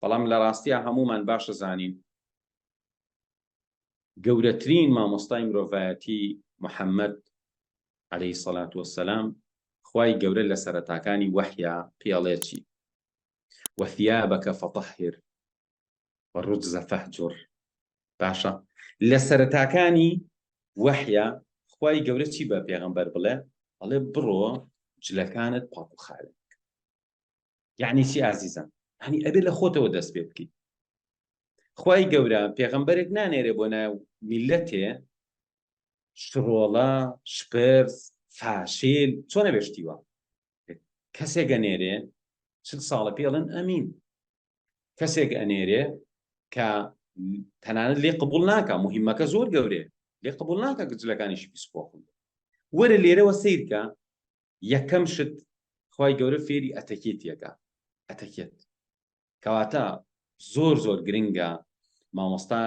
بەڵام لە ڕاستیا هەموومان باشە زانین گەورەترین مامۆستای مرۆڤایەتی محەممەد عەلەیهی سەلات وەسەلام خوای گەورە لە سەرەتاکانی وەحیا پێڵێکی وەثیابەکە فەتەهر وەڕجزە فەهجر باشە لە سەرەتاکانی وەحیا خوای گەورە چی بە پێغەمبەر بڵێ ئەڵێ بڕۆ جلەکانت پاکوخاوێن یعنی چی ئازیزان هەنی ئەبێ لە خۆتەوە دەست پێ بکەیت خی گەورە پێغەمبەرێک نانێرێ بۆ ناو میلەتێ شڕۆڵە شپرس فاشیل چۆن نەبێشتیوە کەسێک گەنێرێ چل ساڵە پێڵن ئەمین کەسێک ئەنێرێ کە تەنانەت لێ قبول ناکە مهمەکە زۆر گەورێ لێ قبول ناکە گجلەکانیشی پیسپۆخن وەرە لێرەوە سیرکە یەکەم شت خوای گەورە فێری ئەتەکێتیەکە ئەتەکێت کەواتە زۆر زۆر گرنگە مامۆستا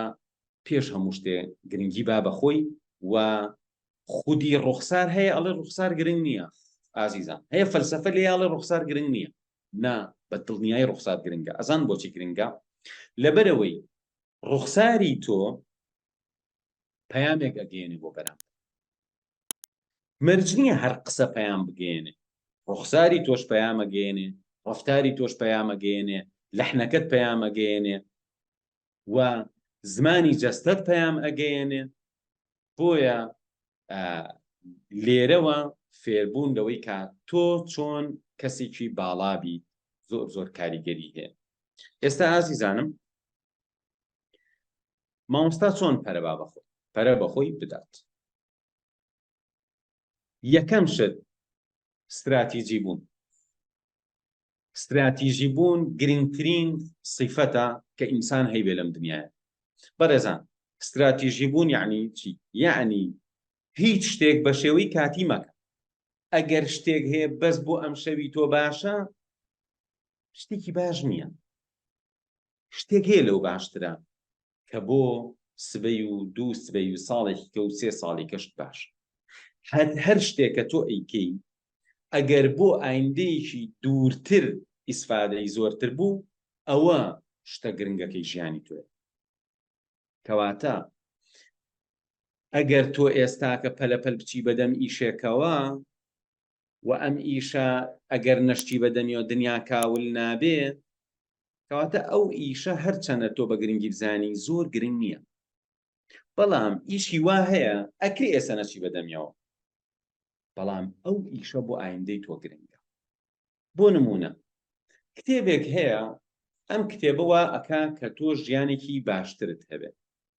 پێش هەموو شتێ گرنگی با بەخۆی و خودی ڕوخسار هەیە ئەڵێ ڕوخسار گرنگ نییە ئازیزان هەیە فەلسفە لێ یاڵێ ڕوخسار گرنگ نییە نا بە دڵنیای ڕوخسار گرنگە ئەزان بۆچی گرنگە لەبەرەوەی ڕوخساری تۆ پەیامێک ئەگەیەنێ بۆ بەرامبەر مەرج نییە هەر قسە پەیام بگەیەنێ ڕوخساری تۆش پەیام ئەگەیەنێ ڕفتاری تۆش پەیام ئەگەیەنێ لەحنەکەت پەیام ئەگەیەنێ و زمانی جەستەت پەیام ئەگەیەنێ بۆیە لێرەوە فێربوون لەوەی کا تۆ چۆن کەسێکی باڵابی زۆر زۆر کاریگەری هەیە ئێستا ئازیزانم مامۆستا چۆن پەرە با بەخۆی پەرە بەخۆی بدات یەکەم شت ستراتیجی بوون ستراتیژی بوون گرنگترین سیفەتە کە ئینسان هەیبێ لەم دنیاە بەڕێزان ستراتیژی بوون یعنی چی یعنی هیچ شتێک بە شێوەی کاتی مەکە ئەگەر شتێک هەیە بەس بۆ ئەم شەوی تۆ باشە شتێکی باش نییە شتێک هەیە لەو باشترە کە بۆ سبەی و دوو سبەی و ساڵێکی کە و سێ ساڵی کەشت باش هەر هەر شتێک کە تۆ ئەیکەی ئەگەر بۆ ئایندەیەکی دوورتر ئیسفادەی زۆرتر بوو ئەوە شتە گرنگەکەی ژیانی تۆێ کەواتە ئەگەر تۆ ئێستاکە پەلەپەل بچی بەدەم ئیشێکەوە وە ئەم ئیشە ئەگەر نەشتی بە دەمیەوە دنیا کاول نابێ کەواتە ئەو ئیشە هەرچەنە تۆ بە گرنگی بزانی زۆر گرنگ نییە بەڵام ئیشی وا هەیە ئەکری ئێستا نەچی بە دەمیەوە بەڵام ئەو ئیشە بۆ ئایندەی تۆ گرنگە بۆ نمونە کتێبێک هەیە ئەم کتێبەوە ئەکا کە تۆ ژیانێکی باشترت هەبێت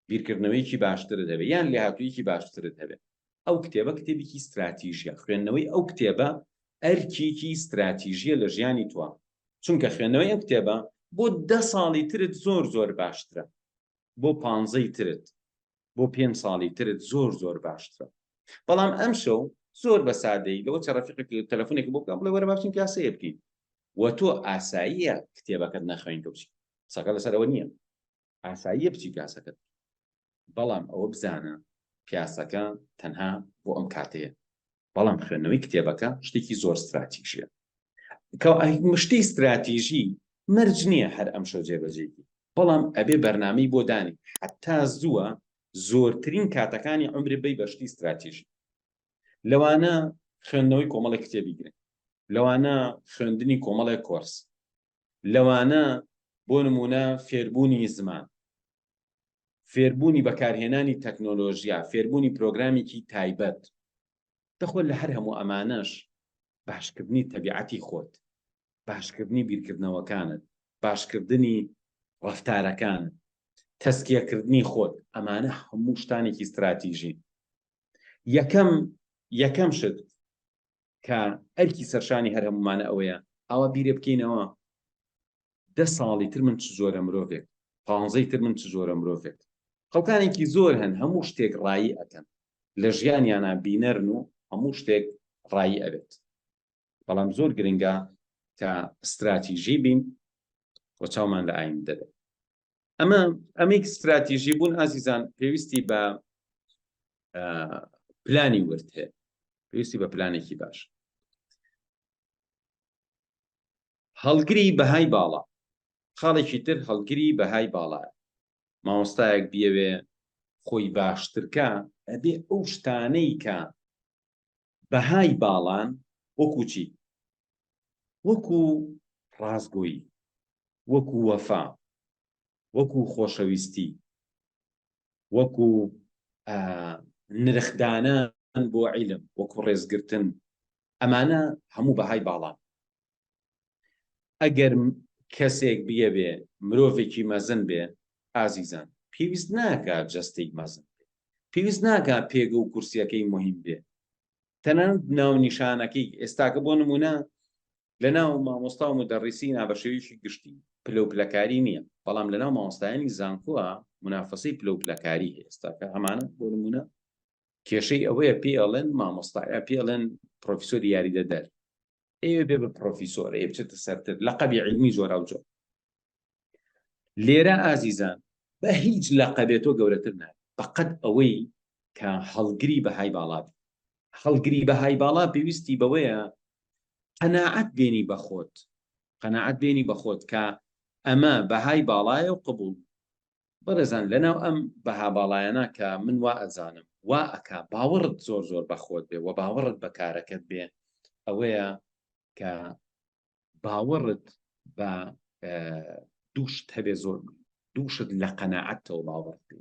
بیرکردنەوەیەکی باشترت هەبێت یان لێهاتوویەکی باشترت هەبێت ئەو کتێبە کتێبێکی ستراتیژیە خوێندنەوەی ئەو کتێبە ئەرکێکی ستراتیژیە لە ژیانی تۆ چونکە خوێندنەوەی ئەو کتێبە بۆ دە ساڵی ترت زۆر زۆر باشترە بۆ پانزەی ترت بۆ پێنج ساڵی ترت زۆر زۆر باشترە بەڵام ئەم شەو زۆر بە سادەی لەوە چە ڕەفیقێک تەلەفۆنێک بۆ بکەم بڵێ وەرە باشین کاسەیە بکەین و تۆ ئاساییە کتێبەکەت نەخوێنکە بچی سەکە لەسەرەوە نییە ئاساییە بچی پیاسەکەت بکەی بەڵام ئەوە بزانە پیاسەکە تەنها بۆ ئەم کاتەیە بەڵام خوێندنەوەی کتێبەکە شتێکی زۆر ستراتیژیە مشتی ستراتیژی مەرج نییە هەر ئەم شەو جێبەجێکی بەڵام ئەبێ بەرنامەی بۆ دانی حتا زووە زۆرترین کاتەکانی عمری بی بەشتی ستراتیژی لەوانە خوێندنەوەی کۆمەڵی کتێبی گرن لەوانە خوێندنی کۆمەڵێک کۆرس لەوانە بۆ نموونە فێربوونی زمان، فێربوونی بەکارهێنانی تەکنۆلۆژیا، فێربوونی پرۆگرامێکی تایبەت. دەخۆ لە هەر هەموو ئەمانەش باشکردنی تەبیعەتی خۆت، باشکردنی بیرکردنەوەکانت، باشکردنی ڕەفتارەکانت، تەزکیەکردنی خۆت، ئەمانە هەموو شتانێکی ستراتیژین. یەکەم یەکەم شت کە ئەرکی سەرشانی هەر هەمومانە ئەوەیە ئاوا بیرێ بکەینەوە دە ساڵی تر من چ زۆرە مرۆڤێک پانزەی تر من چ زۆرە مرۆڤێک خەڵکانێکی زۆر هەن هەموو شتێک ڕایی ئەەکەن لە ژیانیانە بینەرن و هەموو شتێک ڕایی ئەبێت بەڵام زۆر گرنگە کە استراتیژی بین و چاومان لە ئایم دەبێت ئەمە ئەمیک ستراتیژی بوون ئازیزان پێویستی بە پلانی ورد هەیە پێویستی بە پلانێکی باش هەڵگری بەهای باڵا خاڵێکی تر هەڵگری بەهای باڵا مامۆستایەک بیەوێ خۆی باشترکە ئەبێ ئەو شتانەی کە بەهای باڵان وەکو چی؟ وەکو ڕاستگۆیی، وەکو وەفا، وەکو خۆشەویستی، وەکو نرخدانان بۆ عیلم، وەکو ڕێزگرتن، ئەمانە هەموو بەهای باڵان. ئەگەر کەسێک بیەوێ مرۆڤێکی مەزن بێ، ئازیزان، پێویست ناکا جەستەی مەزن بێ، پێویست ناکا پێگە و کورسییەکەی موهیم بێ، تەنانەت ناونیشانەکەی، ئێستاکە بۆ نموونە لەناو مامۆستا و مودەڕیسینا بە شێوەیەکی گشتی پلەوپلەکاری نییە، بەڵام لەناو مامۆستایانی زانکۆا مونافەسەی پلەوپلەکاری هەیە، ئێستاکە ئەمانە بۆ نموونە کێشەی ئەوەیە پێی ئەڵێن مامۆستا، یا پێی ئەڵێن پڕۆفیسۆری یاریدەدەر، ئێ بێ بە پرۆفیسۆر ئێ بچێتە سەرتر لەقەبی عیلمی جۆراوجۆر لێرە ئازیزان بە هیچ لەقەبێت تۆ گەورەتر نابێت بەقەد ئەوەی کە هەڵگری بەهای باڵا بێت هەڵگری بەهای باڵا پێویستی بەوەیە قەناعەت بێنی بەخۆت قەناعەت بێنی بەخۆت کە ئەمە بەهای باڵایە و قبول بەڕێزان لەناو ئەم بەها باڵایانە کە من وا ئەزانم وا ئەکا باوەڕت زۆر زۆر بەخۆت بێ وە باوەڕت بە کارەکەت بێ ئەوەیە کە باوەڕت بە دووشت هەبێ زۆر دووشت لە قەنەعەتەوە باوەڕ بێ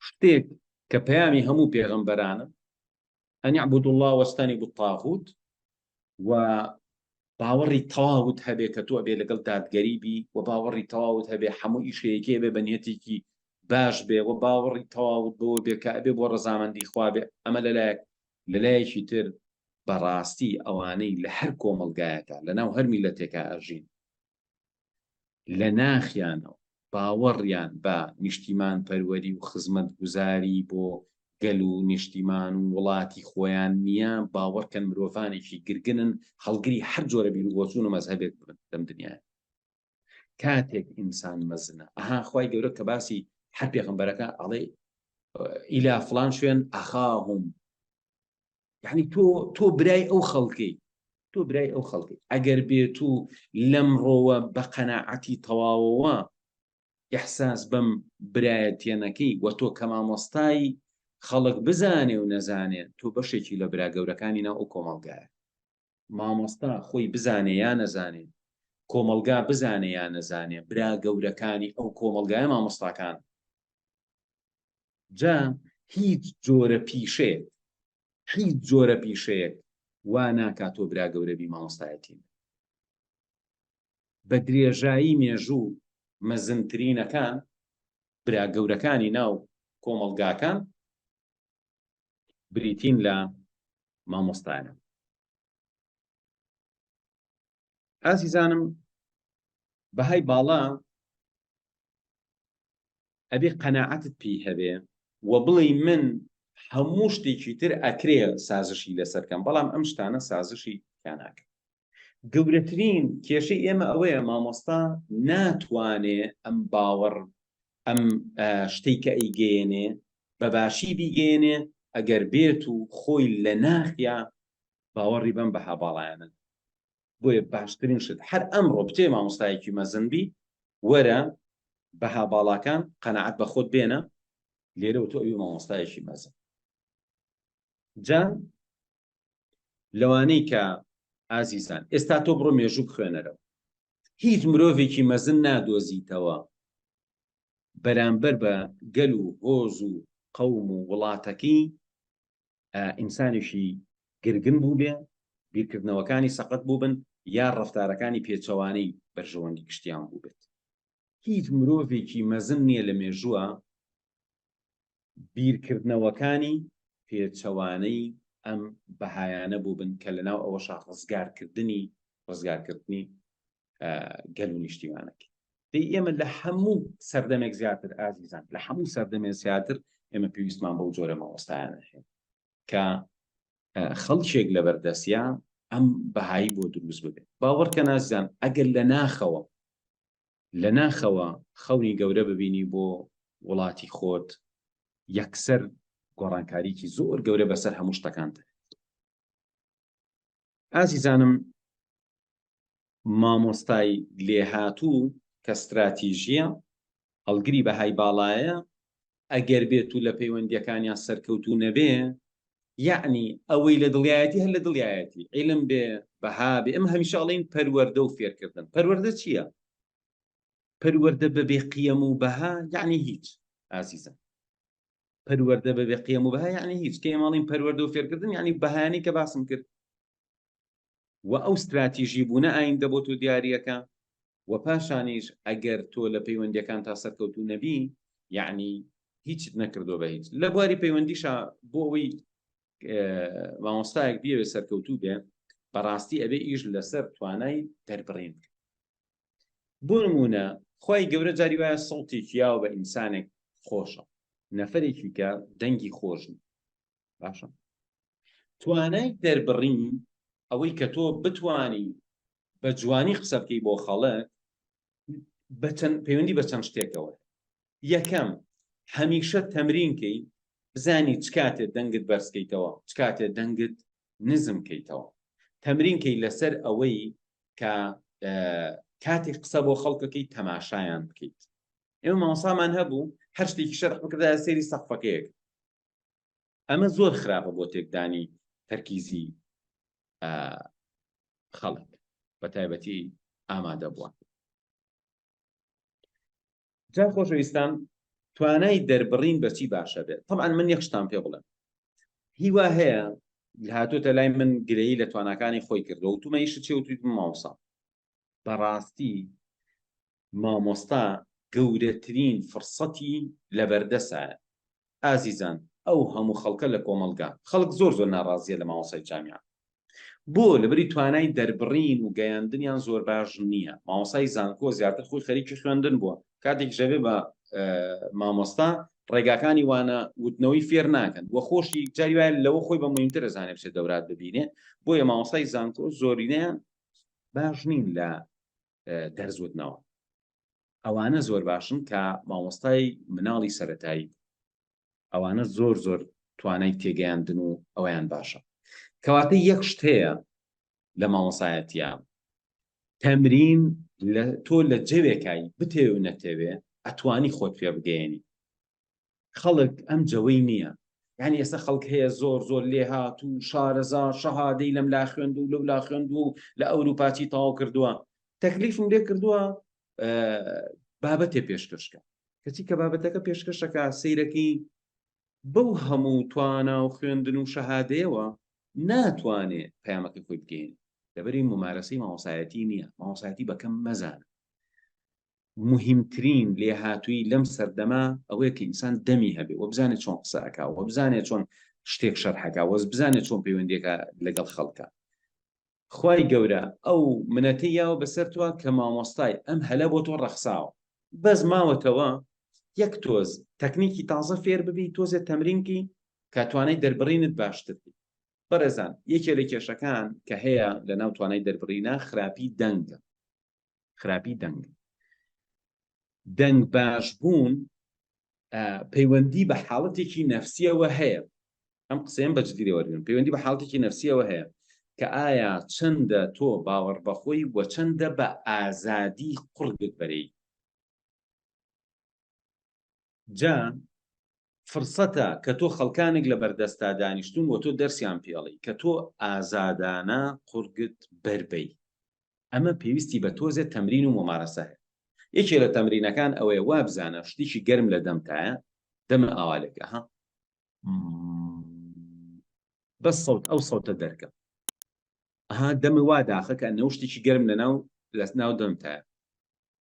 شتێک کە پەیامی هەموو پێغەمبەرانم ان اعبدوا اللە واجتنبوا الطاغوت و باوەڕی تەواوت هەبێ کە تۆ ئەبێ لەگەڵ دادگەری بی و باوەڕی تەواوت هەبێ هەموو ئیشەیەکی ئەبێ بە نیەتێکی باش بێ و باوەڕی تەواوت بەوە بێ کە ئەبێ بۆ ڕەزامەندی خوا بێ ئەمە لەلایەک لەلایەکی تر بەڕاستی ئەوانەی لە هەر کۆمەڵگایەکە لەناو هەر میلەتێکە ئەژین لە ناخیانەوە باوەڕیان بە نیشتیمانپەروەری و خزمەتگوزاری بۆ گەل و نیشتیمان و وڵاتی خۆیان نییە، باوەڕکەن مرۆڤانێکی گرگنن هەڵگری هەر جۆرە بیروبۆچوون و مەزهەبێک بن لەم دنیایە. کاتێک ئینسان مەزنە، ئەها خوای گەورە کە باسی هەر پێغەمبەرەکە ئەڵێ ئیلا فڵان شوێن ئەخاهم یعنی تۆ تۆ برای ئەو خەڵکەی تۆ برای ئەو خەڵکی ئەگەر بێت و لەم ڕۆوە بە قەنەعەتی تەواوەوە ئەحساس بەم برایەتێنەکەی وە تۆ کە مامۆستای خەڵک بزانێ و نەزانێن تۆ بەشێکی لە برا گەورەکانی ناو ئەو کۆمەڵگایە مامۆستا خۆی بزانێ یا نەزانێ، کۆمەڵگا بزانێ یا نەزانێ، برا گەورەکانی ئەو کۆمەڵگایە مامۆستاکانن. جا هیچ جۆرە پیشەیەک، هیچ جۆرە پیشەیەک وا ناکا تۆ برا گەورە بی مامۆستایەتی نەکەی. بە درێژایی مێژوو مەزنترینەکان، برا گەورەکانی ناو کۆمەڵگاکان، بریتین لە مامۆستایان ئازیزانم بەهای باڵا ئەبێ قەنەعەتت پێی هەبێ و بڵێ من هەموو شتێکی تر ئەکرێ سازشی لەسەرکەم بەڵام ئەم شتانە سازشی کاناکە گەورەترین کێشەی ئێمە ئەوەیە مامۆستا ناتوانێ ئەم باوەڕ ئەم شتەی کە ئەیگەێنێ بەباشی بیگەێنێ ئەگەر بێت و خۆی لە ناخیا باوەڕی بەم بەها باڵایەنە بۆیە باشترین شت هەر ئەمڕۆ بچێ مامۆستایەکی مەزنبی وەرە بەها باڵاکان قەنەعات بە خۆت بێنە لێرەوە تۆ ئەوی مامۆستایەکی مەزن جا لەوانەی کە ئازیزان ئێستا تۆ بڕۆ مێژوو بخوێنەرەوە هیچ مرۆڤێکی مەزن نادۆزیتەوە بەرامبەر بە گەل و هۆز و قەوم و وڵاتەکەی ئینسانێکی گرگن بوو بێ بیرکردنەوەکانی سەقەت بوو بن یا ڕفتارەکانی پێچەوانەی بەرژەوەندی گشتیان بوو بێت هیچ مرۆڤێکی مەزن نییە لە مێژووە بیرکردنەوەکانی پێچەوانەی ئەم بەهایانە بووبن کە لەناو ئەوەشە ڕزگارکردنی ڕزگارکردنی گەل و نیشتیمانەکە دی ئێمە لە هەموو سەردەمێک زیاتر ئازیزان لە هەموو سەردەمێ زیاتر ئێمە پێویستمان بەو جۆرە مامۆستایانە هەیە کە خەڵکێک لە بەردەستە ئەم بەهایی بۆ دروست ببێت باوەڕکە نازان ئەگەر لە ناخەوە لە ناخەوە خەونی گەورە ببینی بۆ وڵاتی خۆت یەکسەر گۆڕانکاریکی زۆر گەورە بەسەر هەموو شتەکانت ئازیزانم مامۆستای لێهاتوو کە ستراتیژیە هەڵگری بەهای باڵایە ئەگەر بێت و لە پەیوەندییەکانیان سەرکەوتوو نەبێ، یەعنی ئەوەی لە دڵیایەتی هەر لە دڵیایەتی، عیلم بێ، بەها بێ، ئێمە هەمیشە ئەڵێین پەروەردە و فێرکردن، پەروەردە چییە؟ پەروەردە بە بێ قیەم و بەها یەعنی هیچ ئازیزم. پەروەردە بە بێ قیەم و بەها یەعنی هیچ، کە ئێمە ئەڵێین پەروەردە و فێرکردن یەعنی بەهایانەی کە باسم کرد. وە ئەو ستراتیژی بونە ئایندە بۆ تۆ دیاریەکە وە پاشانیش ئەگەر تۆ لە پەیوەندیەکانتا سەرکەوتو نەبی یەعنی هیچت نەکردوە بە هیچ لە بواری پەیوەندیشا بۆ ئەوەی مامۆستایەک بیەوێ سەرکەوتو بێ بەڕاستی ئەبێ ئیش لەسەر توانای دەربڕین بکە بۆ نمونە خۆی گەورە جاری وایە سەڵتی کیاو بە ئینسانێک خۆشە نەفرێکی کە دەنگی خۆشن باشە توانای دەربڕین ئەوەی کە تۆ بتانی بە جوانی قسە بکەی بۆ خەڵک بەچەند پەیوەندی بە چەند شتێکەوە یەکەم هەمیشە تەمرینکەی بزانی چ کاتێ دەنگت بەرزکەیتەوە چ کاتێ دەنگت نزم کەیتەوە تەمرینکەی لەسەر ئەوەی کە کاتێک قسە بۆ خەڵکەکەی تەماشایان بکەیت ئێمە مامۆسامان هەبوو هەر شتێکی شەرح بکردا سێری سەقفەکەیەک ئەمە زۆر خراپە بۆ تێکدانی تەرکیزی خەڵک بە تایبەتی ئامادە بووە جا خۆشەویستان توانای دەربڕین بەچی باشە بێت تەمان من یەخشتان پێ بڵێن هیوا هەیە هاتوۆتە لای من گرەی لە تواناکانی خۆی کردەوە تومەیش چێوتوی ماوسا بەڕاستی مامۆستا گەورەترین فڕسەتی لەبەردەسە ئازیزان ئەو هەموو خەڵکە لە کۆمەڵگا خەڵک زۆر زۆر ناڕازیە لە مامۆسای جامیان بۆ لەبری توانای دەربڕین و گەیاندنیان زۆر باش نییە ماوەسای زانکۆ زیاتر خۆی خەریکی خوێندن بووە کاتێک ژەبێ بە مامۆستا ڕێگاکانی وانە وتنەوەی فێر ناکەن وە خۆشی جاری وایە لەوە خۆی بە مهمتر دەزانێت بچێت دەورات ببینێ بۆیە ماوەسای زانکۆ زۆرینەیان باش نین لە دەرزوتنەوە ئەوانە زۆر باشن کە مامۆستای مناڵی سەتایی ئەوانە زۆر زۆر توانای تێگەیاندن و ئەویان باشە کەواتە یەک شتەیە لە مامۆسایەتە تەمرین لە تۆ لە جەوێکایی بتێ و نەتەوێ ئەتوانی خۆت پێ بگەێنی خەڵک ئەم جەوەی نییە یعنی ئێستا خەڵک هەیە زۆر زۆر لێهات و شارەزا شەهادەی لەم لا خوێند و لەو لا خوێند و لە ئەوروپاچی تاو کردووە تەکلیفم لێ کردووە بابەتێ پێشکەشکە کەچی کە بابەتەکە پێشکەشەکە سیرەکەی بەو هەموو توانا و خوێندن و شەهادەیەوە ناتوانێ پەیامەکە خۆی بگەین لەبەری ممارەسی ماوەسایەتی نییە ماوەسایەتی بەکەم مەزان موهیمترین لێهاتوویی لەم سەردەمە ئەوەیە کە ئینسان دەمی هەبێ و بزانێ چۆن قسە ئەکا و بزانێ چۆن شتێک شەرح ئەکا و بزانێ چۆن پەیوەندی ئەکا لەگەڵ خەڵکا خوای گەورە ئەو منەتەی یاوە بەسەر تۆ کە مامۆستای ئەم هەلە بۆ تۆ ڕەخساوە بەس ماوەتەوە یەک تۆز تەکنیکی تازە فێر ببی تۆزێ تەمرینکی کە توانای دەربڕینت باشتر بی بەڕێزان یەکێ لە کێشەکان کە هەیە لە ناو توانای دەربڕینە خراپی دەنگە خراپی دەنگ دەنگ باش بوون پەیوەندی بە حاڵەتێکی نەفسیەوە هەیە ئەم قسەیان بەجددیرەوەگرن پەیوەندی بە حاڵەتێکی نەفسیەوە هەیە کە ئایا چەندە تۆ باوەڕ بەخۆی وە چەندە بە ئازادی قڕگت بەرەی جا فرسەتە کە تۆ خەڵکانێک لە بەردەستا دانیشتون و تۆ دەرسیان پێڵی کە تۆ ئازادانە قورگت بەربەی ئەمە پێویستی بە تۆزێ تەمرین و ممارەسە هەیە یەکێ لە تەمرینەکان ئەوەیە وابزانە شتێکی گەرم لە دەمتایە دەمە ئاوالێکە ها بە سەوت ئەو سەوتە دەرکە ها دەمە وا داخەکە نەوشتێکی گەرم لە ناو لەس ناو دەمتایە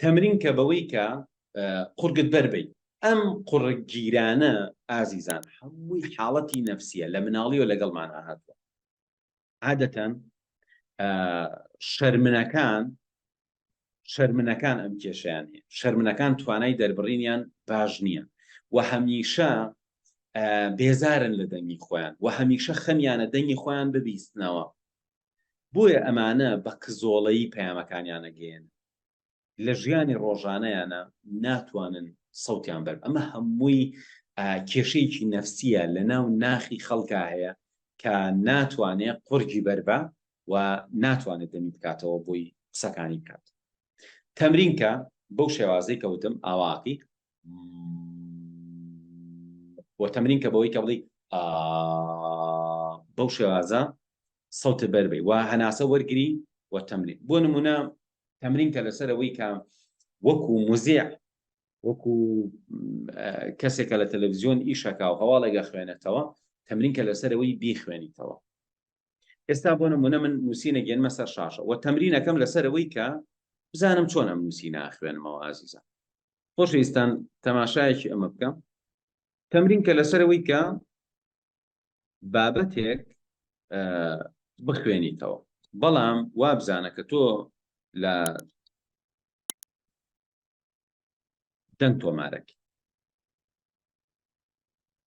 تەمرین کە بەوەی کە قورگت بەربیت ئەم قڕگیرانە ئازیزان هەمووی حاڵەتی نەفسیە لە مناڵی و لەگەڵمان ئاهاتوە عادەتەن شەرمنەکان شەرمنەکان ئەم کێشیان هەیە شەرمنەکان توانای دەربڕینیان باش نییە و هەمیشە بێزارن لە دەنگی خۆیان و هەمیشە خەمیانە دەنگی خۆیان ببیستنەوە بۆیە ئەمانە بە کزۆڵەیی پەیامەکانیان ئەگەیەنن لە ژیانی ڕۆژانەیانە ناتوانن سەوتیان بەر ئەمە هەمووی کێشەیەکی نەفسیە لە ناو ناخی خەڵکا هەیە کە ناتوانێت قورگی بەربە و ناتوانێت دەمی بکاتەوە بۆی قسەکانی بکات تەمرین کە بەو شێوازەی کەوتم ئاواقی بۆ تەمرین کە بەوەی کە بڵی بەو شێوازە سەوت بەربی و هەناسە وەرگری و تەمرین بۆ نمونە تەمرین کە لەسەرەوەی کە وەکو مزیع وەکو کەسێکە لە تەلەڤزیۆن ئیشەکە و هەواڵێگە خوێنێتەوە تەمرین کە لەسەرەوەی بیخوێنیتەوە ئێستا بۆ نمونە من نووسینە گەنمە سەر شاشە و تەمرینەکەم لەسەرەوەی کە بزانم چۆن ئەم نووسی ناخوێنمەوە ئازیزە خۆشەویستان تەماشایەکی ئەمە بکەم تەمرین کە لەسەرەوەی کە بابەتێک بخوێنیتەوە بەڵام وابزانە کە تۆ لە دەنگ تۆمارەک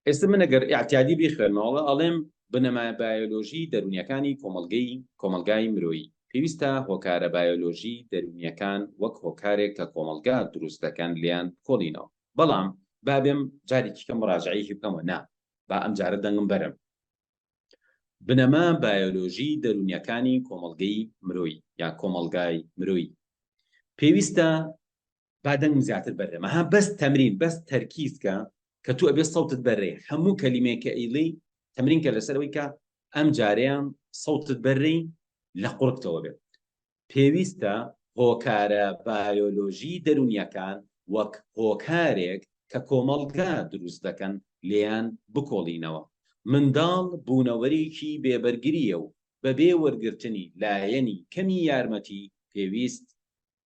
ئێستا من ئەگەر ئاعتیادی بیخوێنەوەڵە ئەڵێم بنەما بایۆلۆژی دەرونیەکانی کۆمەلگەی کۆمەلگای مرۆیی پێویستە هۆکارە بایۆلۆژی دەرونیەکان وەک هۆکارێک کە کۆمەلگا دروست دەکەن لیان کۆڵینەوە بەڵام بابێم جارێکیکە مراجعیشی بکەمەوە نا با ئەم جارە دەنگم بەرم بنەما بایۆلۆژی دەروونیەکانی کۆمەڵگەی مرۆیی یان کۆمەڵگای مرۆیی پێویستە با دەنگم زیاتر بەرێمە ها بەس تەمرین بەس تەرکیزکە کە تو ئەبێ سەوتت بەرێ هەموو کەلیمەیە کە ئیلی تەمرین کە لەسەرەوەی کە ئەم جارەیان سەوتت بەرێ لە قوڕکتەوە بێت پێویستە هۆکارە بایۆلۆژیی دەروونییەکان وەک هۆکارێک کە کۆمەڵگا دروست دەکەن لێیان بکۆڵینەوە. منداڵ بوونەوەرێکی بێ بەرگرییە و بەبێ وەرگرتنی لایەنی کەمی یارمەتی پێویست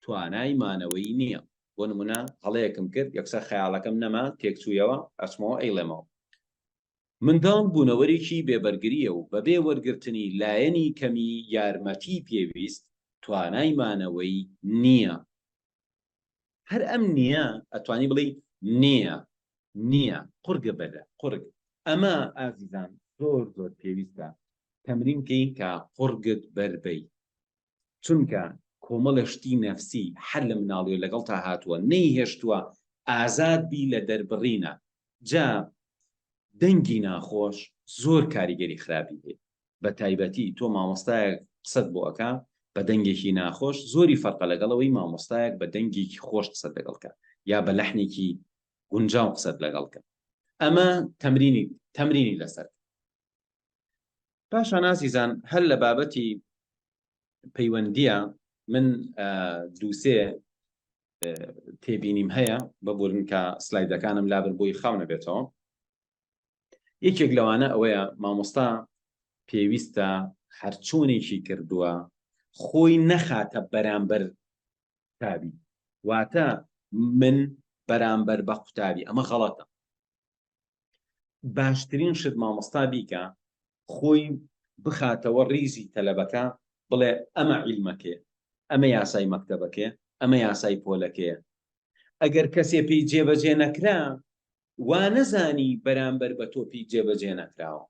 توانای مانەوەی نییە. بۆ نموونە هەڵەیەکم کرد یەکسەر خەیاڵەکەم نەما تێکچوویەوە ئەچمەوە ئەیڵێمەوە. منداڵ بوونەوەرێکی بێ بەرگرییە و بەبێ وەرگرتنی لایەنی کەمی یارمەتیی پێویست توانای مانەوەی نییە. هەر ئەم نییە ئەتوانی بڵێی نییە، نییە، قورگە بەلە، قورگ. ئەمە ئازیزان زۆر زۆر پێویستە تەمرین بکەین کە قورگت بەر بەی. چونکە کۆمەڵە شتی نەفسی هەر لە مناڵیەوە لەگەڵتا هاتووە نەیهێشتووە ئازاد بی لە دەربڕینە جا دەنگی ناخۆش زۆر کاریگەری خراپی هەیە بە تایبەتی تۆ مامۆستایەک قسەت بۆ ئەکا بە دەنگێکی ناخۆش زۆری فەرقە لەگەڵەوەی مامۆستایەک بە دەنگێکی خۆش قسەت لەگەڵکە یا بە لەحنێکی گونجاو قسەت لەگەڵکە ئەمە تەمرینی تەمرینی لەسەر پاشان ئازیزان هەر لە بابەتی پەیوەندیە من دووسێ تێبینیم هەیە بە بۆرنکە سلایدەکانم لابر بۆی خاو نەبێتەوە یەکێک لەوانە ئەوەیە مامۆستا پێویستە هەرچۆنێکی کردووە خۆی نەخاتە بەرامبەر تابی واتە من بەرامبەر بە قوتابی ئەمە غەڵەتە باشترین شت مامۆستا بیکا خۆی بخاتەوە ڕیزی تەلەبەکە بڵێ ئەمە عیلمەکێ ئەمە یاسای مەکتەبەکێ ئەمە یاسای پۆلەکەیە ئەگەر کەسێ پێی جێبەجێ نەکرا وا نەزانی بەرامبەر بە تۆپی جێبەجێ نەکراوە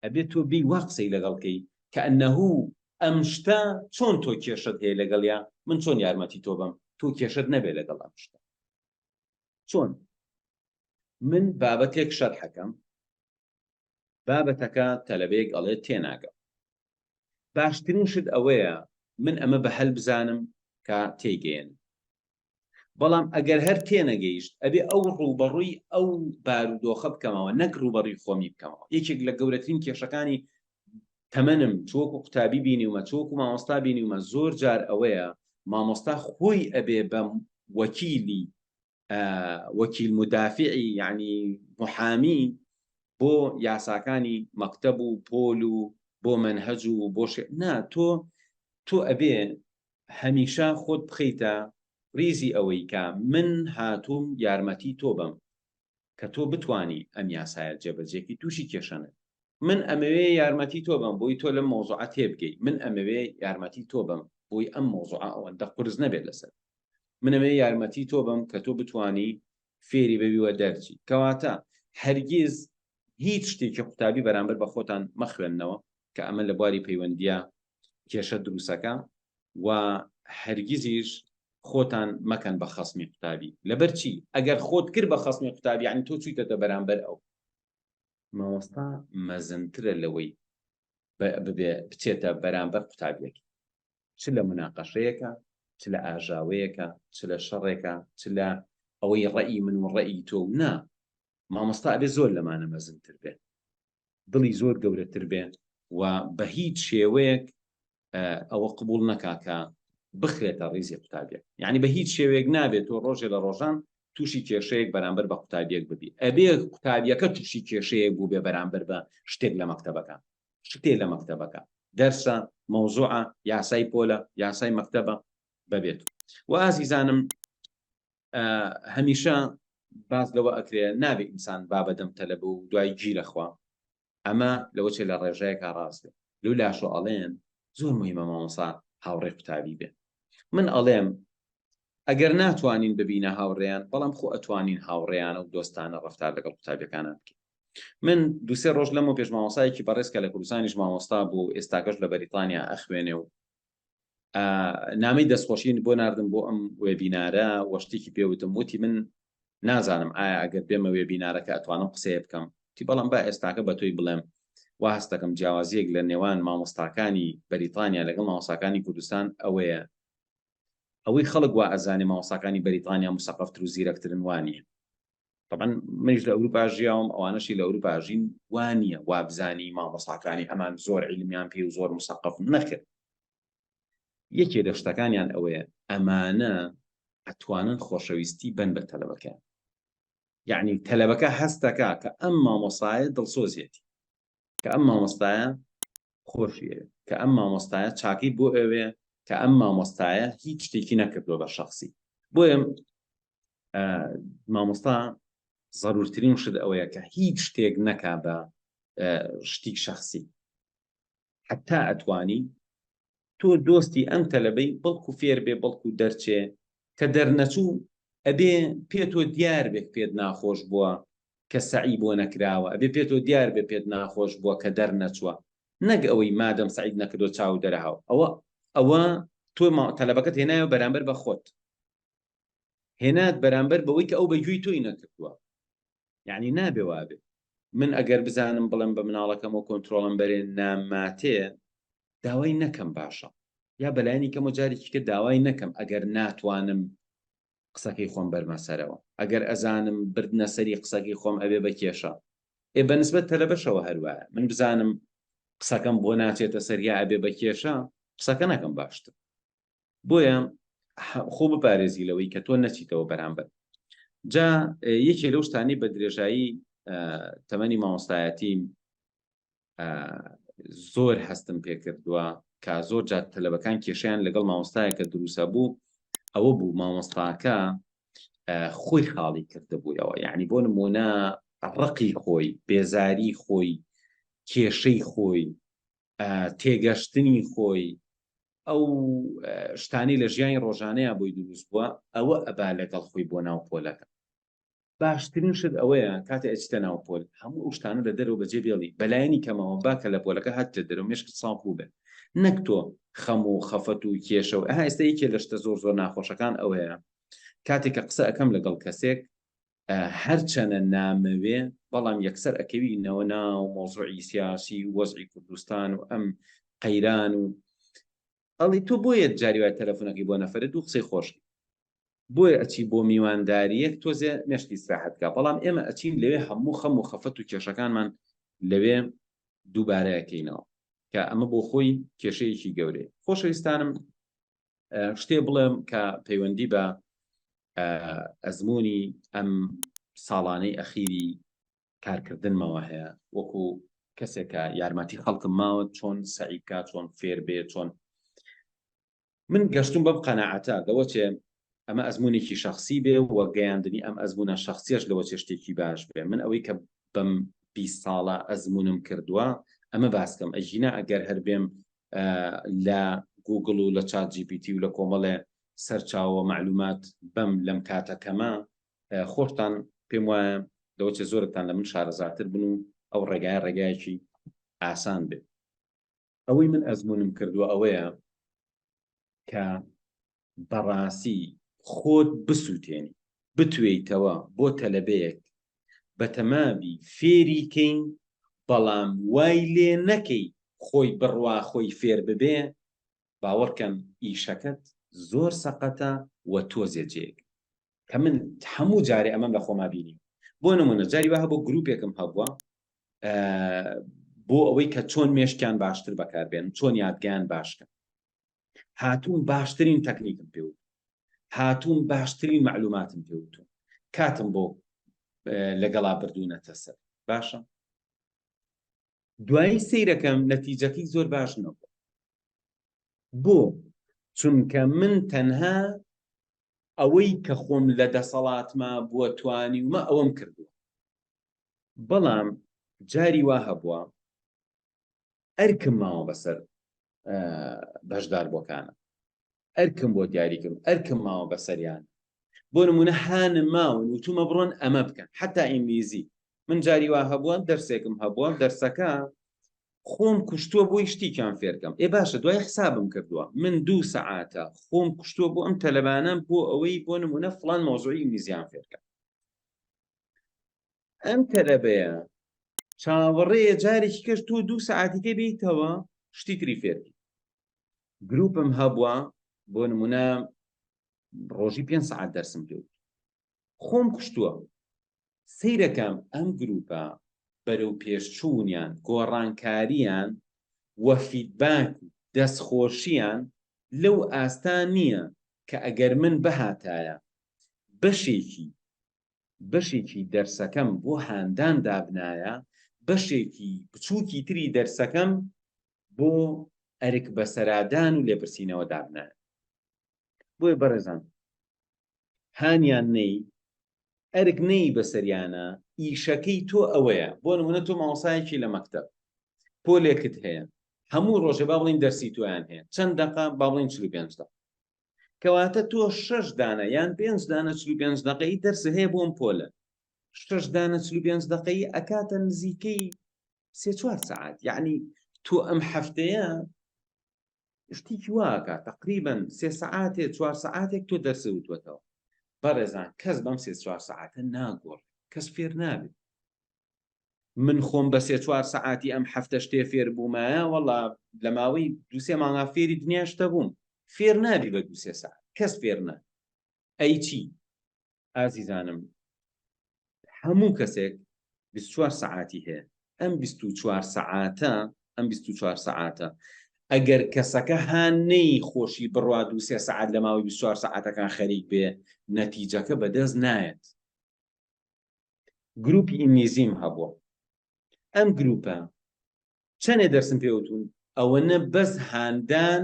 ئەبێت تۆ بی وا قسەی لەگەڵکەی کە ئەنەهوو ئەم شتە چۆن تۆ کێشت هەیە لەگەڵیا من چۆن یارمەتی تۆ بم تۆ کێشت نەبێ لەگەڵ ئەم شتە چۆن؟ من بابەتێک شەرحەکەم بابەتەکە تەلەبەیەک ئەڵێت تێناگەم باشترین شت ئەوەیە من ئەمە بە هەل بزانم کە تێگەێن بەڵام ئەگەر هەر تێنەگەیشت ئەبێ ئەو ڕووبەڕووی ئەو بارودۆخە بکەمەوە نەک ڕووبەڕی خۆمی بکەمەوە یەکێک لە گەورەترین کێشەکانی تەمەنم چۆکو قوتابی بینیومە چۆکو مامۆستا بینیومە زۆر جار ئەوەیە مامۆستا خۆی ئەبێ بە وەکیلی وەکیل مدافعی یعنی محامی بۆ یاساکانی مەکتەب و پۆل و بۆ منهج و بۆ نا تۆ تۆ ئەبێ هەمیشە خۆت بخیتە ریزی ئەوەی کە من هاتووم یارمەتی تۆ بم کە تۆ بتوانی ئەم یاسایە جێبەجێکی تووشی کێشە نەبی. من ئەمەوێ یارمەتی تۆ بەم بۆی تۆ لەم مەوزوعە تێبگەی من ئەمەوێ یارمەتی تۆ بەم بۆی ئەم مەوزوعە ئەوەندە قورس نەبێت لەسەر من ئەمەوێ یارمەتی تۆ بەم کە تۆ بتوانی فێری بەوی وە دەرچی کەواتە هەرگیز هیچ شتێکی قوتابی بەرامبەر بە خۆتان مەخوێننەوە کە ئەمە لە بواری پەیوەندیە کێشە دروستەکە و هەرگیزیش خۆتان مەکەن بە خەسمی قوتابی لەبەرچی ئەگەر خۆت کرد بە خەسمی قوتابی عنی تۆ چیتەتە بەرامبەر ئەو مامۆستا مەزنترە لەوەی ببێ بچێتە بەرامبەر قوتابیەکی چ لە مناقەشەیەەکە چ لە ئاژاوەیەەکە چ لە شەڕێکە چ لە ئەوەی ڕێی من و ڕێی تۆ نا مامۆستا ئەبێ زۆر لەمانە مەزنتر بێت دڵی زۆر گەورەتر بێ و بە هیچ شێوەیەک ئەوە قبول نەکا کە بخرێتە ڕیزی قوتابیە یعنی بە هیچ شێوەیەک نابێت تۆ ڕۆژێ لە ڕۆژان تووشی کێشەیەک بەرامبەر بە قوتابیەک ببی ئەبێ قوتابیەکە تووشی کێشەیەک بوو بێ بەرامبەر بە شتێک لە مەکتتەبەکە شتێ لە مەکتتەبەکە دەرسە مەوزوعە یاسای پۆلە یاسای مەکتتەبە بەبێت و ئازیزانم هەمیشە باس لەوە ئەکرێ نابێ ئینسان بابەدەم تەلە بوو دوای گیرەخوا ئەمە لەوە چێ لە ڕێژەیە کا ڕاست بێ لو لاشۆ ئەڵێن زۆر مهمە مامۆسا هاوڕێ قوتابی بێ من ئەڵێم ئەگەر ناتوانین ببینە هاوڕێیان بەڵام خۆ ئەتوانین هاوڕێیانە و دۆستانە ڕفتار لەگەڵ قوتابەکانە بکەین من دوسێ ڕۆژ لەمە پێش مامۆسایەکی بەڕێزکە لە کوردستانیش مامۆستا بوو ئێستاکەش لە بەریتانیا ئەخوێنێ و نامەی دەستخۆشین بۆ ناردم بۆ ئەم وێبینارە وە شتێکی پێوتم وتی من نازانم ئایا ئەگەر بێمە وێبینارەکە ئەتوانم قسەیە بکەم تی بەڵام با ئێستاکە بە تۆی بڵێم وا هەستەکەم جیاوازیەک لە نێوان مامۆستاکانی بەریتانیا لەگەڵ مامۆساکانی کوردستان ئەوەیە ئەوەی خەڵک وا ئەزانێ مامۆساکانی بەریتانیا مسەقفتر و زیرەکترن وانە تەبەن منیش لە ئەوروپا ژیاوم ئەوانەشی لە ئەوروپا ژین وانە وابزانی مامەساکانی ئەمان زۆر عیلمیان پێ و زۆر مسەقف نەکرد یەکێ لە شتەکانیان ئەوەیە ئەمانە ئەتوانن خۆشەویستی بن بە تەلەبەکەیان یعنی تەلەبەکە هەستەکە کە ئەم مامۆسایە دڵسۆزیەتی کە ئەم مامۆستایە خۆشی ئەوێ کە ئەم مامۆستایە چاکەی بۆ ئەوێ کە ئەم مامۆستایە هیچ شتێکی نەکردووە بە شخصی بۆیە مامۆستا ضرورترین شت ئەوەیە کە هیچ شتێک نەکا بە شتی شخصی حتا ئەتوانی تۆ دۆستی ئەم تەلەبەی بەڵکو فێر بێ بەڵکو دەرچێ کە دەرنەچوو ئەبێ پێ تۆ دیار بێ پێت ناخۆش بووە کە سەعی بۆ نەکراوە ئەبێ پێ تۆ دیار بێ پێت ناخۆش بووە کە دەرنەچووە نەک ئەوەی مادەم سەعیت نەکردۆ چاو دەرەهاو ئەوە ئەوە تۆ ما تەلەبەکەت هێنایەوە بەرامبەر بە خۆت هێنات بەرامبەر بەوەی کە ئەو بەگوێی تۆی نەکردووە یعنی نابێ وابێ من ئەگەر بزانم بڵم بە مناڵەکەمەوە کۆنتترۆڵم بەرێن ناماتێ داوای نەکەم باشە یا بەلایەنی کەمە جارێکی کە داوای نەکەم ئەگەر ناتوانم قسەکەی خۆم بەرمە سەرەوە ئەگەر ئەزانم بردنە سەری قسەکەی خۆم ئەبێ بە کێشە ئێ بەنسبەت تەلەبەشەوە هەروایە من بزانم قسەکەم بۆ ناچێتە سەریا ئەبێ بە کێشە قسەکە نەکەم باشتر بۆیە خۆ بپارێزی لەوەی کە تۆ نەچیتەوە بەرامبەر جا یەکێ لەو شتانی بە درێژایی تەمەنی مامۆستایەتی زۆر هەستم پێکردووە کە زۆر جات تەلەبەکان کێشیان لەگەڵ مامۆستایەکە دروسە بوو ئەوە بوو مامۆستاکە خۆی خاڵی کردبوویەوە یعنی بۆ نمونە ڕقی خۆی بێزاری خۆی کێشەی خۆی تێگەشتنی خۆی ئەو شتانی لە ژیانی ڕۆژانەیە بۆی دروست بووە ئەوە ئەبا لەگەڵ خۆی بۆ ناو پۆلەکە باشترین شت ئەوەیە کاتێ ئەچیتە ناو پۆل هەموو ئەو شتانە لە دەرەوە بەجێ بێڵی بە لایەنی کەمەوە با کە لە پۆلەکە هاتیتە دەرەوە مێشکت ساف بووبێت نەک تۆ خەم و خەفەت و کێشە و ئەها ئێستا یەکێ لە شتە زۆر زۆر ناخۆشەکان ئەوەیە کاتێک کە قسە ئەکەم لەگەڵ کەسێک هەرچەنە نامەوێ بەڵام یەکسەر ئەکەوینەوە ناو مۆزوعی سیاسی وەزعی کوردستان و ئەم قەیران و ئەڵی تۆ بۆیە جاری وایە تەلەفونەکەی بۆ نەفەرێت و قسەی خۆشی بۆیە ئەچی بۆ میوانداریەک تۆزێ مێشکی ئیسراحەت کا بەڵام ئێمە ئەچین لەوێ هەموو خەم و خەفەت و کێشەکانمان لەوێ دووبارەکەینەوە کە ئەمە بۆ خۆی کێشەیەکی گەورەیە خۆشەویستانم شتێ بڵێم کە پەیوەندی بە ئەزمموی ئەم ساڵانەی ئەخیری کارکردنمەوە هەیە وەکو کەسێکە یارمەتی خەڵکم ماوە چۆن سعیکا چۆن فێر بێ چۆن من گەشتم بەم قەنەعەتە دەوە چێ ئەمە ئەزمونێکی شخصی بێ و گەیاندنی ئەم ئەزمونە شخصیش لەوە چێ شتێکی باش بێ من ئەوەی کە بەم بی ساڵە ئەزمونم کردووە ئەمە باسکەم ئەژینا ئەگەر هەر بێم لە گوگل و لە چات جیپیتی و لە کۆمەڵێ سەرچاوە معلومات بەم لەم کاتەکەمە خۆشتان پێم وایە لەوچە زۆرتان لە من شارەزاتر بن و ئەو ڕێگای ڕێگایەکی ئاسان بێت ئەوەی من ئەزمونم کردووە ئەوەیە کە بەڕاستی خۆت بسووتێنی بتوێیتەوە بۆ تەلەبەیەک بە تەماوی فێریکەین بەڵام وای لێ نەکەی خۆی بڕوا خۆی فێر ببێ باوەڕکەن ئیشەکەت زۆر سەقەتە وە تۆزێ جێیەک کە من هەموو جارێ ئەمەم لە خۆما بینی بۆ نمونە جاری وە هەبوو گروپێکم هەبووە بۆ ئەوەی کە چۆن مێشکیان باشتر بەکاربێن چۆن یادگەیان باشکە هاتوون باشترین تەکنیکم پێوت هاتوون باشترین معلوماتم پێوتون کاتم بۆ لەگەڵا بردوونەتە سەر باشە دوایی سیرەکەم نەتیجەکەی زۆر باش نەبوو بۆ چونکە من تەنها ئەوەی کە خۆم لە دەسەڵاتما بووە توانی ومە ئەوەم کردووە بەڵام جاری وا هەبووە ئەرکم ماوە بەسەر بەشدار بۆکانە ئەرکم بۆ دیاری کردوون، ئەرکم ماوە بەسەریان. بۆ نموونە هانم ماون وتوومە بڕۆن ئەمە بکەن، حەتا ئینگلیزی. من جاری وا هەبووە دەرسێکم هەبووە، دەرسەکە خۆم کوشتووە بۆی شتیکیان فێر کەم. ئێ باشە دوای حسابم کردووە. من دوو سەعاتە خۆم کوشتووە بۆ ئەم تەلەبانە بۆ ئەوەی بۆ نموونە فڵان مەوزوعی ئینگلیزییان فێر کەم. ئەم تەلەبەیە چاوەڕێیە جارێکی کەش تۆ دوو سعاتیکە بیتەوە شتی تری فێرکی گروپم هەبووە بۆ نمونە ڕۆژی پێ سعات دەرسم پێ خۆم کوشتووە سیرەکەم ئەم گروپە بەرەو پێشچوونیان گۆڕانکاریان وەفیدباک دەستخۆشییان لەو ئاستا نییە کە ئەگەر من بهاتایە بەشێکی بەشێکی دەرسەکەم بۆ هاندان دابنایە، بەشێکی بچووکی تری دەرسەکەم بۆ ئەرک بەسەرادان و لێپرسینەوە دابنایە. بۆیە بەڕێزان هانیان نەی ئەرک نەی بەسەریانە ئیشەکەی تۆ ئەوەیە بۆ نمونە تۆ مامۆسایەکی لە مەکتەب پۆلێکت هەیە هەموو ڕۆژێ با بڵین دەرسی تۆیان هەیە چەند دەقە با بڵین چل و پێنج دەقە کەواتە تۆ شش دانە یان پێنج دانە چلو پێنج دقەی دەرس هەیە بۆم پۆلە شش دانە چلو پێنج دقەی ئەکاتە نزیکەی سێ چوار سعات یعنی تۆ ئەم هەفتەیە شتێکی واکە تقریبن سێ سعاتێ چوار سعاتێک تۆ دەرسە وتوەتەوە بەڕێزان کەس بەم سێ چوار سعاتە ناگۆڕ کەس فێر نابێت من خۆم بە سێ چوار سەعاتی ئەم هەفتە شتێ فێر بوومایە وەڵا لە ماوەی دوو سێ مانگا فێری دنیا شتە بووم فێر نابی بە دوو سێ سەعات کەس فێر نا ئەی چی ئازیزانم هەموو کەسێک بیست چوار سەعاتی هەیە ئەم بیست و چوار سەعاتە ئەم بیست و چوار سەعاتە ئەگەر کەسەکە هانەی خۆشی بڕوا دوو سێ سعات لە ماوەی 24 سعاتەکان خەریک بێ نەتیجەکە بەدەست نایەت گروپی ئینگلیزیم هەبووە ئەم گروپە چەنێ دەرسم پێوتون ئەوەنە بەس هاندان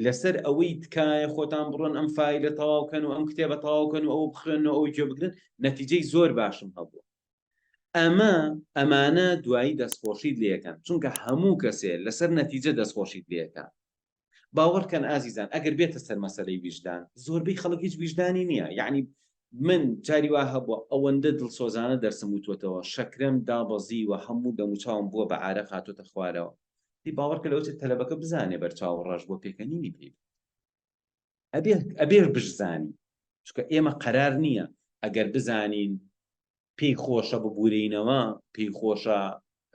لەسەر ئەوەی تکایە خۆتان بڕۆن ئەم فیلە تەواوکەن و ئەم کتێبە تەواوکەن و ئەو بخوێن و ئەو جێ بگرن نەتیجەی زۆر باشم هەبوو ئەمە ئەمانە دوایی دەستخۆشیت لەکەن چونکە هەموو کەسێ لەسەر نەتیجە دەستخۆشیت لەکە باوەڕکەن ئازیزان ئەگەر بێتە سەر مەسەلەی ویژدان زۆربەی خەڵک هیچ ویژدانی نییە یەعنی من جاری وا هەبووە ئەوەندە دڵسۆزانە دەرسم وتوەتەوە شەکرەم دابەزیوە هەموو دەموچاوم بووە بە عارەق هاتۆتە خوارەوە دی باوەڕکە لەوەچێت تەلەبەکە بزانێ بەرچاو ڕەش بووە پێکەنینی پێ ئەبێ ئەبێ بشزانین چکە ئێمە قەرار نییە ئەگەر بزانین پێی خۆشە ببورینەوە پێی خۆشە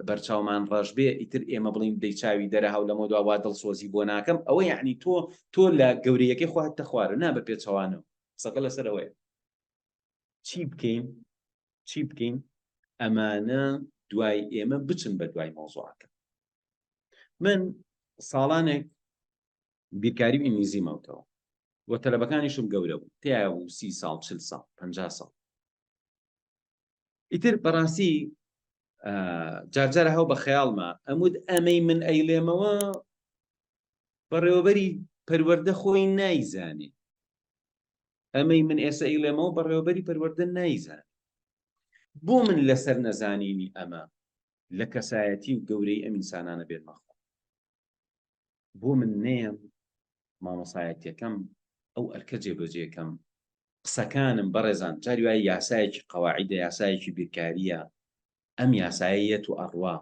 بەرچاومان ڕەش بێ ئیتر ئێمە بڵین دەی چاوی دەرە هاو لەمە دواوا دڵسۆزی بۆ ناکەم ئەوە یعنی تۆ تۆ لە گەورەیەکەی خواهت تەخوارە نا بە پێچەوانەوە سەکە لەسەرەوەی چی بکەین چی بکەین ئەمانە دوای ئێمە بچن بە دوای مۆزوعەکە من ساڵانێک بیرکاری و ئینگلیزی ماوتەوە و تەلەبەکانیشم گەورە بوو تیا بوو سی ساڵ چل ساڵ پەنجا ساڵ ئیتر بەڕاستی جارجارە هەو بە خەیاڵمە ئەمود ئەمەی من ئەیلێمەوە بەڕێوەبەری پەروەردە خۆی نایزانێ ئەمەی من ئێستا ئیلێمەوە بەڕێوەبەری پەروەردە نایزان بۆ من لەسەر نەزانینی ئەمە لە کەسایەتی و گەورەی ئەم ئینسانانە بێنمەخۆ بۆ من نەیەم مامۆسایەتیەکەم ئەو ئەرکە جێبەجێکەم قسەکانم بەڕێزان جاری وای یاسایەکی قەواعدە یاسایەکی بیرکاریە ئەم یاسایەت و ئەڕوا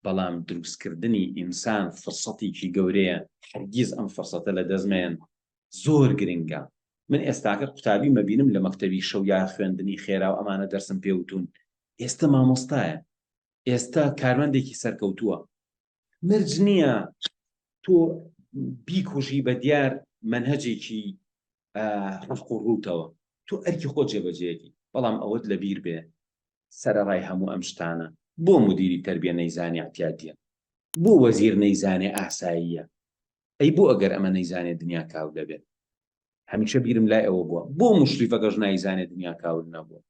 بەڵام دروستکردنی ئینسان فرسەتێکی گەورەیە هەرگیز ئەم فرسەتە لە دەستمێن زۆر گرنگە من ئێستاکە قوتابی مەبینم لە مەکتەبی شەو یا خوێندنی خێرا و ئەمانە دەرسم پێوتون ئێستا مامۆستایە ئێستا کارمەندێکی سەرکەوتووە مرج نییە تۆ بیکوژی بە دیار منهجێکی ڕق و ڕووتەوە تۆ ئەرکی خۆ جێبەجێکی بەڵام ئەوەت لە بیر بێ سەرڕای هەموو ئەم شتانە بۆ مدیری تربیە نەیزانانی عتیادە بۆ وەزیر نەیزانێ ئاساییە ئەی بۆ ئەگەر ئەمە نەیزانێ دنیا کاو دەبێت هەمیشە بیرم لای ئەوە بووە بۆ مشریفەکەش نایزانێت دنیا کاول نەبووە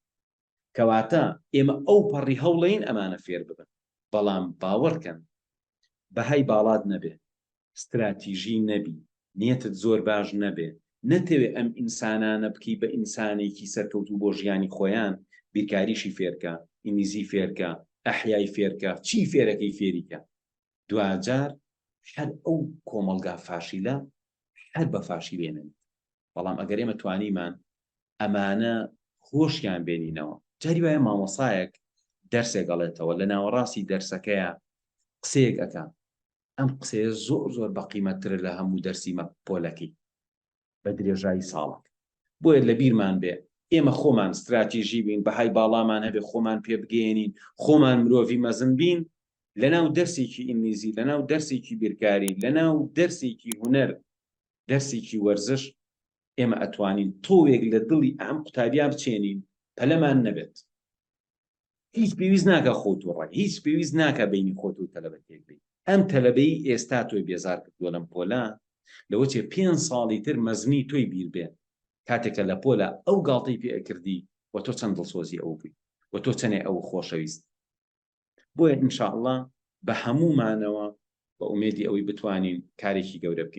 کەواتە ئێمە ئەوپەڕی هەوڵەین ئەمانە فێرببن، بەڵام باوەڕکەن بەهای باڵات نەبێ، ستراتیژی نەبی، نیەتت زۆر باش نەبێ، نەتەوێ ئەم ئینسانانە بکەی بە ئینسانێکی سەرکەوتوو بۆ ژیانی خۆیان، بیرکاریی فێرکە، ئینگلیزی فێرکە، ئەحیای فێرکە، چی فێرەکەی فێریکە. دواجار هەر ئەو کۆمەڵگا فاشیلە هەر بە فاشیلێنن. بەڵام ئەگەر ئێمە توانیمان ئەمانە هۆشیان بێنینەوە جاری وایە مامۆسایەک دەرسێک ئەڵێتەوە لە ناوەڕاستی دەرسەکەیە قسەیەک ئەەکە ئەم قسەیە زۆر زۆر بەقیمەتترە لە هەموو دەرسیمە پۆلەکەی بە درێژایی ساڵک بۆیە لە بیرمان بێ ئێمە خۆمان استراتیژی بین بەهای باڵامان هەبێ خۆمان پێ بگەێنین خۆمان مرۆڤی مەزن بین لەناو دەرسێکی ئینگلیزی لەناو دەرسێکی بیرکاری لەناو دەرسێکی هوەر دەرسێکی وەرزش ئێمە ئەتوانین تۆوێک لە دڵی ئەم قوتابیا بچێنین پەلەمان نەبێت هیچ پێویست ناکە خۆت و ڕای هیچ پێویست ناکە بینی خۆت و تەلەبە تێک بی ئەم تەلەبەی ئێستا تۆی بێزار کردووە لەم پۆلا لەوە چێ پێنج ساڵی تر مەزنی تۆی بیر بێ کاتێکە لە پۆلا ئەو گاڵتەی پێ ئەکردی و تۆ چەند دڵسۆزی ئەو بووی و تۆ چەنێ ئەو خۆشەویست بۆیە انشاءاللە بە هەموومانەوە بە ئومێدی ئەوەی بتوانین کارێکی گەورە بکەین